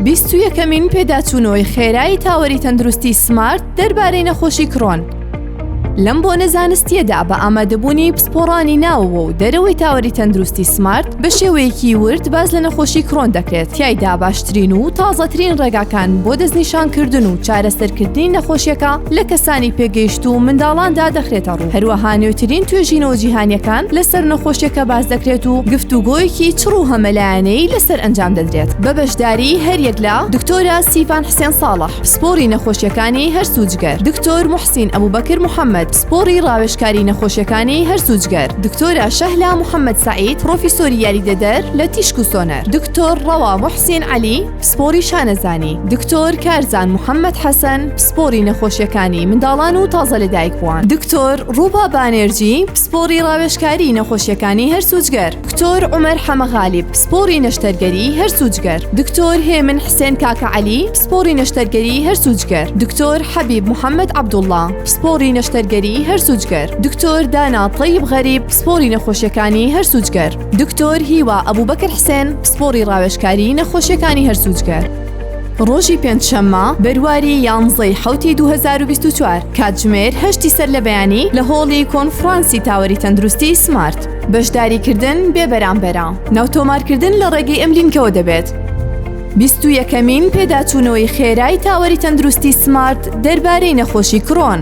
بیست و یەکەمین پێداچوونەوەی خێرای تاوەری تەندروستی سمارت دەربارەی نەخۆشی کڕۆن. لەم بۆنە زانستیەدا بە ئامادەبوونی پسپۆڕانی ناوەوە و دەرەوەی تاوەری تەندروستی سمارت بە شێوەیەکی ورد باز لە نەخۆشی کڕۆن دەکرێت تایدا باشترین و تازەترین ڕێگاکان بۆ دەستنیشانکردن و چارەسەرکردنی نەخۆشیەکە لە کەسانی پێگەیشت و منداڵاندا دەخرێتە ڕوو. هەروەها نوێترین توێژینەوە جیهانیەکان لەسەر نەخۆشیەکە باس دەکرێت و گفتوگۆیەکی چڕ و هەمەلایەنەیی لەسەر ئەنجام دەدرێت بە بەشداری هەریەک لە دکتۆرە سیڤان حسێن ساڵح پسپۆری نەخۆشیەکانی هەرس و جگەر دکتۆر موحسین ئەبوبەکر محەمەد پسپۆری ڕاوێژکاری نەخۆشیەکانی هەرس و جگەر دکتۆرە شەهلا محەمەد سەعید پڕۆفیسۆری یاریدەدەر لە تیشک و سۆنەر دکتۆر ڕەوا موحسین عەلی پسپۆری شانەزانی دکتۆر کارزان محەممەد حەسەن پسپۆری نەخۆشیەکانی منداڵان و تازە لە دایکوان دکتۆر ڕووبا بانێرجی پسپۆری ڕاوێشکاری نەخۆشیەکانی هەرسوجگەر دکتۆر عمر حەمەغالیب پسپۆری نەشتەرگەری هەرسوجگەر دکتۆر هێمن حسێن کاکە علی پسپۆری نەشتەرگەری هەرسوجگەر دکتۆر حەبیب محەممەد عبدوڵڵا پسپۆری نەشتەرگەری هەرسوجگەر دکتۆر دانا تەیب غەریب پسپۆری نەخۆشیەکانی هەرسوجگەر دکتۆر هیوا ئەبوبەکر حسێن پسپۆڕی ڕاوێژکاریی نەخۆشیەکانی هەرسوجگەر ڕۆژی پێنج شەممە بەرواری یانزەی حوتی دوو هەزار و بیست و چوار کاتژمێر هەشتی سەر لە بەیانی لە هۆڵی کۆنفڕانسی تاوەری تەندروستی سمارت بەشداری کردن بێ بەرامبەرە ناوتۆمارکردن لە ڕێگەی ئەم لینکەوە دەبێت بیست و یەکەمین پێداچوونەوەی خێرای تاوەری تەندروستی سمارت دەربارەی نەخۆشی کڕۆن.